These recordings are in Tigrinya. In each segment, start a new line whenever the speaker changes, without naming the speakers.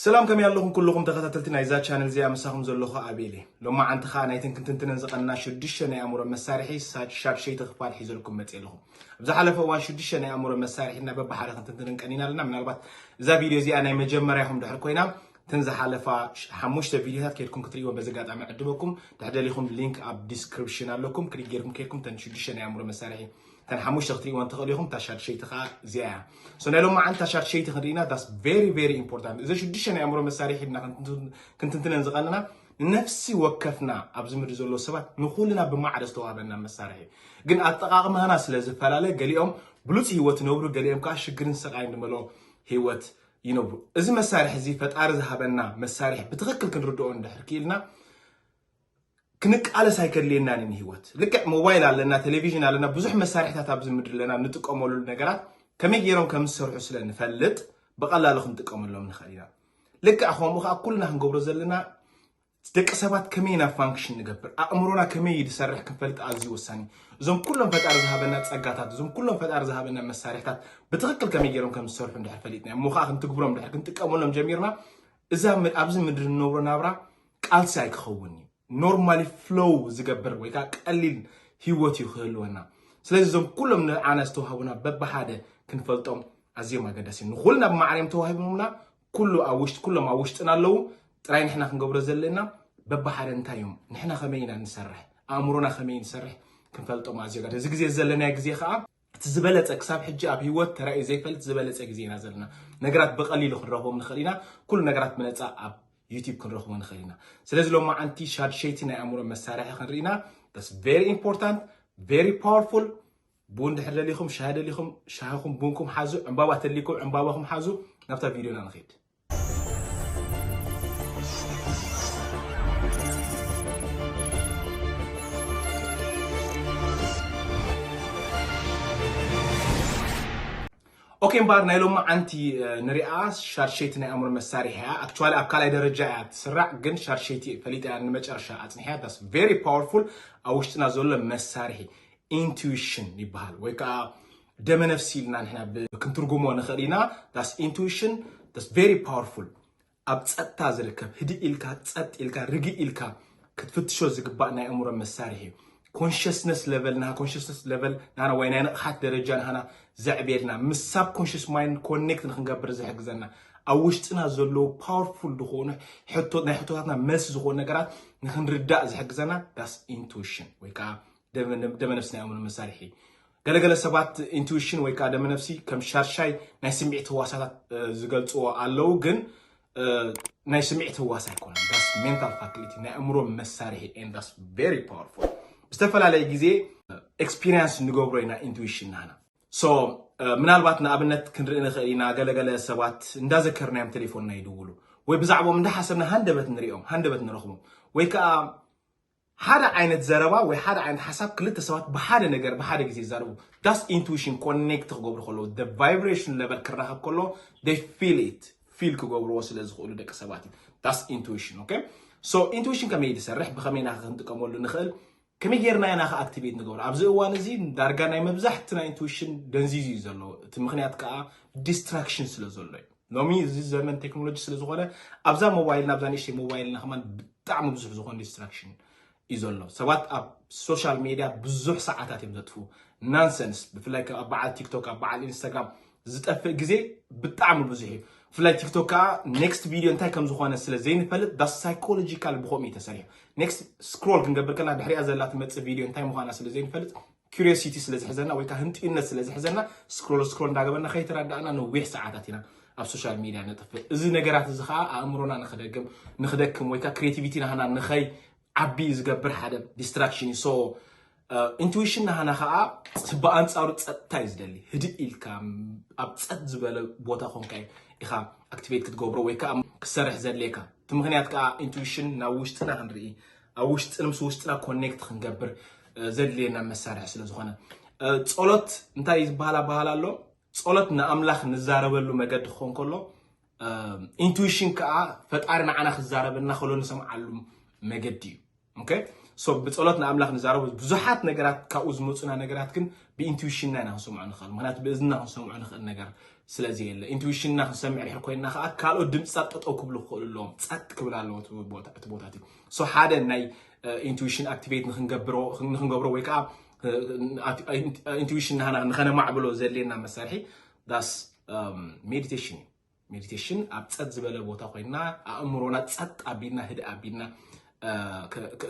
ሰላም ከመይ ኣለኹም ኩሉኹም ተኸታተልቲ ናይዛ ቻነል እዚኣ ምሳኹም ዘለኹ ኣቤል እየ ሎማዓንቲ ከዓ ናይተን ክንትንትነን ዝቐንና ሽዱሽተ ናይ ኣእምሮ መሳርሒ ሻድሸይቲ ክፋል ሒዘልኩም መፅእ ኣለኹ ኣብ ዝሓለፈ እዋን ሽዱሽተ ናይ ኣእምሮ መሳርሒና በብሓደ ክንትንትነን ቀኒና ኣለና ምናልባት እዛ ቪድዮ እዚኣ ናይ መጀመርያ ኢኹም ድሕር ኮይና እተን ዝሓለፋ ሓሙሽተ ቪድዮታት ከድኩም ክትርእይዎ በዚ ኣጋጣሚ ዕድበኩም ድሕደሊኹም ሊንክ ኣብ ዲስክሪፕሽን ኣለኩም ክሊክ ጌርኩም ከድኩም ተን ሽዱሽተ ናይ ኣእምሮ መሳርሒ እተን ሓሙሽተ ክትሪእወን ትኽእሉ ኢኹም እታ ሻድሸይቲ ከዓ እዚኣ እያ ሶ ናይ ሎማዓንቲ እታ ሻድሸይቲ ክንርኢና ዳስ ቨሪ ቨሪ ኢምፖርታንት እዘ ሽዱሽተ ናይ ኣእምሮ መሳርሒ ድና ክንትንትነን ዝቐንና ንነፍሲ ወከፍና ኣብዚ ምድሪ ዘሎ ሰባት ንኩልና ብማዕረ ዝተዋህበና መሳርሒ ግን ኣጠቓቕማና ስለ ዝፈላለ ገሊኦም ብሉፅ ህይወት ይነብሩ ገሊኦም ከዓ ሽግርን ስቓይን ዝመልኦ ህይወት ይነብሩ እዚ መሳርሒ እዚ ፈጣሪ ዝሃበና መሳርሒ ብትኽክል ክንርድኦ እንድሕር ክኢልና ክንቃለስ ኣይከድልየናን እዩ ንህይወት ልክዕ ሞባይል ኣለና ቴሌቪዥን ኣለና ብዙሕ መሳርሕታት ኣብዚ ምድሪ ኣለና ንጥቀመሉ ነገራት ከመይ ገይሮም ከም ዝሰርሑ ስለ ንፈልጥ ብቐላሉ ክንጥቀመሎም ንኽእል ኢና ልክዕ ከምኡ ከዓ ኩልና ክንገብሮ ዘለና ደቂ ሰባት ከመይ ኢና ፋንክሽን ንገብር ኣእምሮና ከመይ እዩ ዝሰርሕ ክንፈልጥ ኣዝዩ ወሳኒ እዞም ኩሎም ፈጣሪ ዝሃበና ጸጋታት እዞም ኩሎም ፈጣሪ ዝሃበና መሳርሕታት ብትኽክል ከመይ ገይሮም ከም ዝሰርሑ እንድሕር ፈሊጥና እሞ ከዓ ክንትግብሮም ድሕር ክንጥቀመሎም ጀሚርና እዛ ኣብዚ ምድሪ ንነብሮ ናብራ ቃልሲ ኣይክኸውን እዩ ኖርማሊ ፍሎው ዝገብር ወይ ከዓ ቀሊል ህይወት እዩ ክህልወና ስለዚ እዞም ኩሎም ንዓና ዝተዋህቡና በብሓደ ክንፈልጦም ኣዝዮም ኣገዳሲ ንኩልና ብማዕርዮም ተዋሂቦምና ኩሉ ኣብ ውሽጢ ኩሎም ኣብ ውሽጥና ኣለዉ ጥራይ ንሕና ክንገብሮ ዘለና በብሓደ እንታይ እዮም ንሕና ከመይ ኢና ንሰርሕ ኣእምሮና ከመይ ንሰርሕ ክንፈልጦም ኣዝዮ እዚ ግዜ ዘለናዮ ግዜ ከዓ እቲ ዝበለጸ ክሳብ ሕጂ ኣብ ህይወት ተራእዩ ዘይፈልጥ ዝበለጸ ግዜ ኢና ዘለና። ነገራት ብቐሊሉ ክንረኽቦም ንኽእል ኢና። ኩሉ ነገራት ብነጻ ኣብ ዩቲዩብ ክንረኽቦ ንኽእል ኢና። ስለዚ ሎማዓንቲ ሻድሸይቲ ናይ ኣእምሮ መሳርሒ ክንርኢ ኢና። That's very important, very powerful። ቡን ድሕር ደሊኹም ሻሂ ደሊኹም ሻሂኹም ቡንኩም ሓዙ፣ ዕምባባ ተድሊኩም ዕምባባኹም ሓዙ። ናብታ ቪድዮና ንኺድ። ኦኬ እምበኣር ናይ ሎሚ ዓንቲ ንሪኣ ሻርሸይቲ ናይ ኣእምሮ መሳርሒ እያ ኣክቹዋሊ ኣብ ካልኣይ ደረጃ እያ ትስራዕ ግን ሻርሸይቲ ፈሊጠ እያ ንመጨረሻ ኣፅኒሐያ ዳስ ቨሪ ፓወርፉል ኣብ ውሽጥና ዘሎ መሳርሒ ኢንቱዊሽን ይበሃል ወይ ከዓ ደመነፍሲ ኢልና ንሕና ክንትርጉሞ ንኽእል ኢና ዳስ ኢንቱዊሽን ዳስ ቨሪ ፓወርፉል ኣብ ፀጥታ ዝርከብ ህድእ ኢልካ ፀጥ ኢልካ ርግእ ኢልካ ክትፍትሾ ዝግባእ ናይ እምሮ መሳርሒ እዩ ኮንሽስነስ ለቨል ናሃ ኮንሽስነስ ለቨል ናና ወይ ናይ ንቕሓት ደረጃ ናሃና ዘዕብየልና ምስ ሳብ ኮንሽስ ማይንድ ኮኔክት ንክንገብር ዝሕግዘና ኣብ ውሽጥና ዘለዉ ፓወርፉል ዝኾኑ ናይ ሕቶታትና መልሲ ዝኾኑ ነገራት ንክንርዳእ ዝሕግዘና ዳስ ኢንቱዊሽን ወይ ከዓ ደመነፍሲ ናይ ኣእምሮ መሳርሒ ገለገለ ሰባት ኢንቱዊሽን ወይ ከዓ ደመነፍሲ ከም ሻርሻይ ናይ ስምዒት ህዋሳታት ዝገልፅዎ ኣለዉ ግን ናይ ስምዒት ህዋስ ኣይኮነ ዳስ ሜንታል ፋክሊቲ ናይ ኣእምሮ መሳርሒ ዳስ ቨሪ ፓወርፉል ዝተፈላለየ ግዜ ኤክስፒሪንስ ንገብሮ ኢና ኢንቱዊሽን ናና ሶ ምናልባት ንኣብነት ክንርኢ ንኽእል ኢና ገለገለ ሰባት እንዳዘከርናዮም ቴሌፎንና ይድውሉ ወይ ብዛዕባኦም እንዳሓሰብና ሃንደበት ንሪኦም ሃንደበት ንረኽቦም ወይ ከዓ ሓደ ዓይነት ዘረባ ወይ ሓደ ዓይነት ሓሳብ ክልተ ሰባት ብሓደ ነገር ብሓደ ግዜ ይዛረቡ ዳስ ኢንቱዊሽን ኮኔክት ክገብሩ ከለዉ the vibration level ክራኸብ ከሎ they feel it ፊል ክገብርዎ ስለ ዝኽእሉ ደቂ ሰባት እዩ ዳስ ኢንቱዊሽን ኦኬ ሶ ኢንቱዊሽን ከመይ ዝሰርሕ ብኸመይ ኢና ክንጥቀመሉ ንኽእል ከመይ ጌርና ኢና ከ ኣክቲቬት ንገብሮ ኣብዚ እዋን እዚ ዳርጋ ናይ መብዛሕትና ኢንቱዊሽን ደንዚዙ እዩ ዘሎ እቲ ምክንያት ከዓ ዲስትራክሽን ስለ ዘሎ እዩ ሎሚ እዚ ዘመን ቴክኖሎጂ ስለ ዝኾነ ኣብዛ ሞባይልና ኣብዛ ንእሽተይ ሞባይልና ከማን ብጣዕሚ ብዙሕ ዝኾነ ዲስትራክሽን እዩ ዘሎ ሰባት ኣብ ሶሻል ሜድያ ብዙሕ ሰዓታት እዮም ዘጥፍኡ ናንሰንስ ብፍላይ ኣብ በዓል ቲክቶክ ኣብ በዓል ኢንስታግራም ዝጠፍእ ግዜ ብጣዕሚ ብዙሕ እዩ ብፍላይ ቲክቶክ ከዓ ኔክስት ቪድዮ እንታይ ከም ዝኾነ ስለ ዘይንፈልጥ ዳ ሳይኮሎጂካል ብከምኡ እዩ ተሰሪሑ ኔክስት ስክሮል ክንገብር ከለና ድሕሪያ ዘላ ትመፅእ ቪድዮ እንታይ ምዃና ስለ ዘይንፈልጥ ኪሪዮሲቲ ስለ ዝሕዘና ወይ ከዓ ህንጥዩነት ስለ ዝሕዘና ስክሮል ስክሮል እንዳገበና ከይተረዳእና ነዊሕ ሰዓታት ኢና ኣብ ሶሻል ሚድያ ነጥፍእ እዚ ነገራት እዚ ከዓ ኣእምሮና ንክደግም ንክደክም ወይ ከዓ ክሬቲቪቲ ናህና ንኸይ ዓቢ ዝገብር ሓደ ዲስትራክሽን እዩ ሶ ኢንቱዊሽን ናህና ከዓ ብኣንፃሩ ፀጥታ እዩ ዝደሊ ህድእ ኢልካ ኣብ ፀጥ ዝበለ ቦታ ኮንካ ኢኻ ኣክቲቬት ክትገብሮ ወይ ከዓ ክሰርሕ ዘድልየካ እቲ ምክንያት ከዓ ኢንቱዊሽን ናብ ውሽጥና ክንርኢ ኣብ ውሽጢ ምስ ውሽጥና ኮኔክት ክንገብር ዘድልየና መሳርሒ ስለ ዝኾነ ጸሎት እንታይ ዝበሃል ኣበሃል ኣሎ ጸሎት ንኣምላኽ ንዛረበሉ መገዲ ክኾን ከሎ ኢንቱዊሽን ከዓ ፈጣሪ ንዓና ክዛረበና ከሎ ንሰምዓሉ መገዲ እዩ ኦኬ ሶ ብጸሎት ንኣምላኽ ንዛረቡ ብዙሓት ነገራት ካብኡ ዝመፁና ነገራት ግን ብኢንቱዊሽንና ኢና ክንሰምዖ ንኽእል ምክንያቱ ብእዝና ክንሰምዖ ንኽእል ነገር ስለዚ የለ ኢንቱዊሽንና ክንሰምዕ ድሕር ኮይና ከዓ ካልኦት ድምፅታት ጠጠው ክብሉ ክኽእሉ ኣለዎም ፀጥ ክብል ኣለዎ እቲ ቦታት እዩ ሶ ሓደ ናይ ኢንቱዊሽን ኣክቲቬት ንክንገብሮ ወይ ከዓ ኢንቱዊሽን ናህና ንኸነማዕብሎ ዘድልየና መሳርሒ ዳስ ሜዲቴሽን እዩ ሜዲቴሽን ኣብ ፀጥ ዝበለ ቦታ ኮይና ኣእምሮና ፀጥ ኣቢልና ህደ ኣቢልና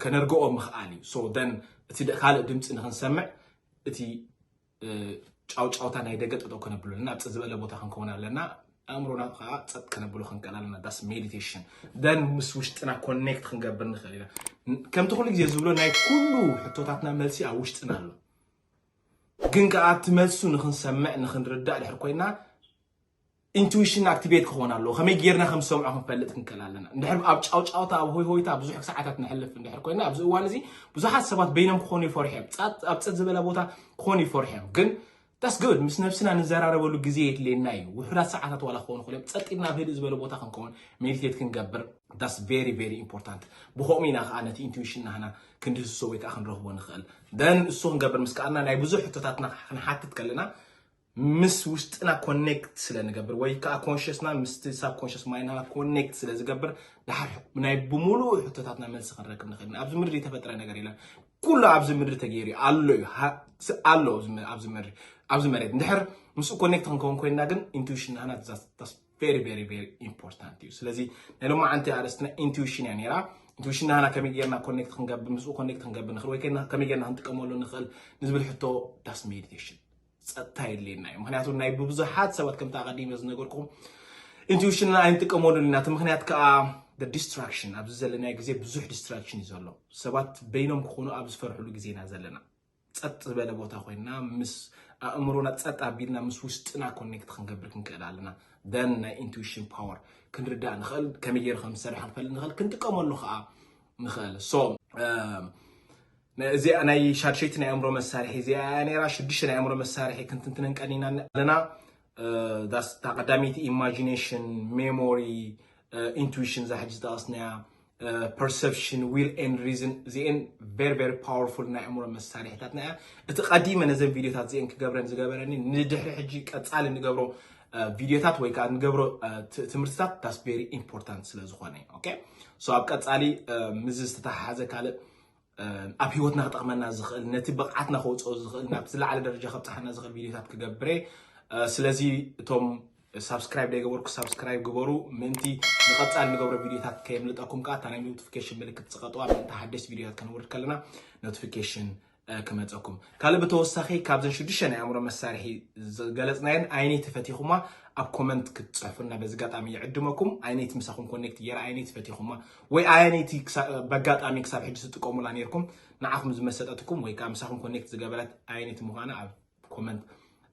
ከነርግኦ ምኽኣል እዩ ሶ ደን እቲ ካልእ ድምፂ ንክንሰምዕ እቲ ጫውጫውታ ናይ ደገ ጠጠው ከነብሎ ኣለና ፅ ዝበለ ቦታ ክንከውን ኣለና ኣእምሮና ከዓ ፀጥ ከነብሎ ክንቀል ኣለና ዳስ ሜዲቴሽን ደን ምስ ውሽጥና ኮኔክት ክንገብር ንኽእል ኢና ከምቲ ኩሉ ግዜ ዝብሎ ናይ ኩሉ ሕቶታትና መልሲ ኣብ ውሽጥና ኣሎ ግን ከዓ እቲ መልሱ ንክንሰምዕ ንክንርዳእ ድሕር ኮይና ኢንቱዊሽንና ኣክቲቬት ክኾን ኣለዎ። ከመይ ጌርና ከም ዝሰምዖ ክንፈልጥ ክንክእል ኣለና። እንድሕር ኣብ ጫውጫውታ ኣብ ሆይሆይታ ብዙሕ ሰዓታት ነሕልፍ እንድሕር ኮይና ኣብዚ እዋን እዚ ብዙሓት ሰባት በይኖም ክኾኑ ይፈርሑ እዮም። ጻት ኣብ ጽት ዝበለ ቦታ ክኾኑ ይፈርሑ እዮም። ግን ዳስ ጉድ ምስ ነብስና ንዘራረበሉ ግዜ የድልየና እዩ። ውሑዳት ሰዓታት ዋላ ክኾኑ ይኽእሉ እዮም። ጸጥ ኢልና ኣብ ህድእ ዝበለ ቦታ ክንከውን ሜዲቴት ክንገብር ዳስ ቬሪ ቬሪ ኢምፖርታንት። ብኸምኡ ኢና ከዓ ነቲ ኢንቱዊሽን ናህና ክንድህስሶ ወይ ከዓ ክንረኽቦ ንኽእል። ደን እሱ ክንገብር ምስ ከኣልና ናይ ብዙሕ ሕቶታትና ክንሓትት ከለና ምስ ውሽጥና ኮኔክት ስለ ንገብር ወይ ከዓ ኮንሽስና ምስቲ ሳብ ኮንሽስ ማይንድና ኮኔክት ስለ ዝገብር ድሓር ናይ ብምሉእ ሕቶታትና መልሲ ክንረክብ ንኽእል ኢና። ኣብዚ ምድሪ ዝተፈጥረ ነገር የለን። ኩሉ ኣብዚ ምድሪ ተገይሩ እዩ ኣሎ እዩ ሃ- ስ- ኣሎ ኣብዚ መ- ኣብዚ ምድሪ ኣብዚ መሬት እንድሕር ምስኡ ኮኔክት ክንከውን ኮይንና ግን ኢንቱዊሽን ናህና ቬሪ ቬሪ ቬሪ ኢምፖርታንት እዩ ስለዚ ናይ ሎሚ ዓንቲ ኣርእስትና ኢንቱዊሽን እያ ነይራ ኢንቱዊሽን ናህና ከመይ ጌርና ኮኔክት ክንገብር ምስኡ ኮኔክት ክንገብር ንኽእል ወይ ከይና ከመይ ጌርና ክንጥቀመሉ ንኽእል ንዝብል ሕቶ ዳስ ሜዲቴሽን ፀጥታ የድልየና እዩ ምክንያቱ ናይ ብብዙሓት ሰባት ከምቲ ኣቐዲመ ዝነገርኩም ኢንቱዊሽንና ኣይንጥቀመሉን ኢና እቲ ምክንያት ከዓ ዲስትራክሽን ኣብዚ ዘለናዮ ግዜ ብዙሕ ዲስትራክሽን እዩ ዘሎ ሰባት በይኖም ክኾኑ ኣብ ዝፈርሕሉ ግዜ ኢና ዘለና ፀጥ ዝበለ ቦታ ኮይና ምስ ኣእምሮና ፀጥ ኣቢልና ምስ ውሽጥና ኮኔክት ክንገብር ክንክእል ኣለና ደን ናይ ኢንቱዊሽን ፓወር ክንርዳእ ንኽእል ከመይ ገይሩ ከም ዝሰርሕ ክንፈልጥ ንኽእል ክንጥቀመሉ ከዓ ንኽእል ሶ እዚኣ ናይ ሻድሸይቲ ናይ ኣእምሮ መሳርሒ እዚኣ እያ ነይራ። ሽዱሽተ ናይ ኣእምሮ መሳርሒ ክንትንትነን ቀኒና ኣለና። እታ ቀዳመይቲ ኢማጂኔሽን፣ ሜሞሪ፣ ኢንቱዊሽን እዛ ሕጂ ዝጠቐስናያ፣ ፐርሰፕሽን፣ ዊል ኤንድ ሪዝን እዚኤን ቨሪ ቨሪ ፓወርፉል ናይ ኣእምሮ መሳርሒታትና እያ። እቲ ቀዲመ ነዘን ቪድዮታት እዚኤን ክገብረን ዝገበረኒ ንድሕሪ ሕጂ ቀጻሊ ንገብሮ ቪድዮታት ወይ ከዓ ንገብሮ ትምህርትታት ዳስ ቬሪ ኢምፖርታንት ስለ ዝኾነ ኦኬ ሶ ኣብ ቀፃሊ ምዚ ዝተተሓሓዘ ካልእ ኣብ ሂወትና ክጠቕመና ዝኽእል ነቲ ብቕዓትና ከውፅኦ ዝኽእል ናብ ዝለዓለ ደረጃ ከብፅሓና ዝኽእል ቪድዮታት ክገብረ ስለዚ እቶም ሳብስክራይብ ዘይገበርኩ ሳብስክራይብ ግበሩ ምእንቲ ንቐፃሊ ንገብሮ ቪድዮታት ከየምልጠኩም ከዓ እታ ናይ ኖቲፊኬሽን ምልክት ፅቐጥዋ ምእንቲ ሓደሽቲ ቪድዮታት ከነውርድ ከለና ኖቲፊኬሽን ክመፀኩም ካልእ ብተወሳኺ ካብዘን ሽዱሽተ ናይ ኣእምሮ መሳርሒ ዝገለፅናየን ኣይነይቲ ፈቲኹማ ኣብ ኮመንት ክትፅሕፉና በዚ ኣጋጣሚ ይዕድመኩም ኣይነይቲ ምሳኹም ኮኔክት ገይረ ኣይነይቲ ፈቲኹማ ወይ ኣየነይቲ በጋጣሚ ክሳብ ሕጂ ትጥቀሙላ ነርኩም ንዓኹም ዝመሰጠትኩም ወይ ከዓ ምሳኹም ኮኔክት ዝገበረት ኣየነይቲ ምዃና ኣብ ኮመንት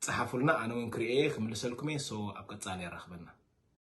ፀሓፉልና ኣነ እውን ክርእየ ክምልሰልኩም እየ ሶ ኣብ ቀፃሊ የራኽበና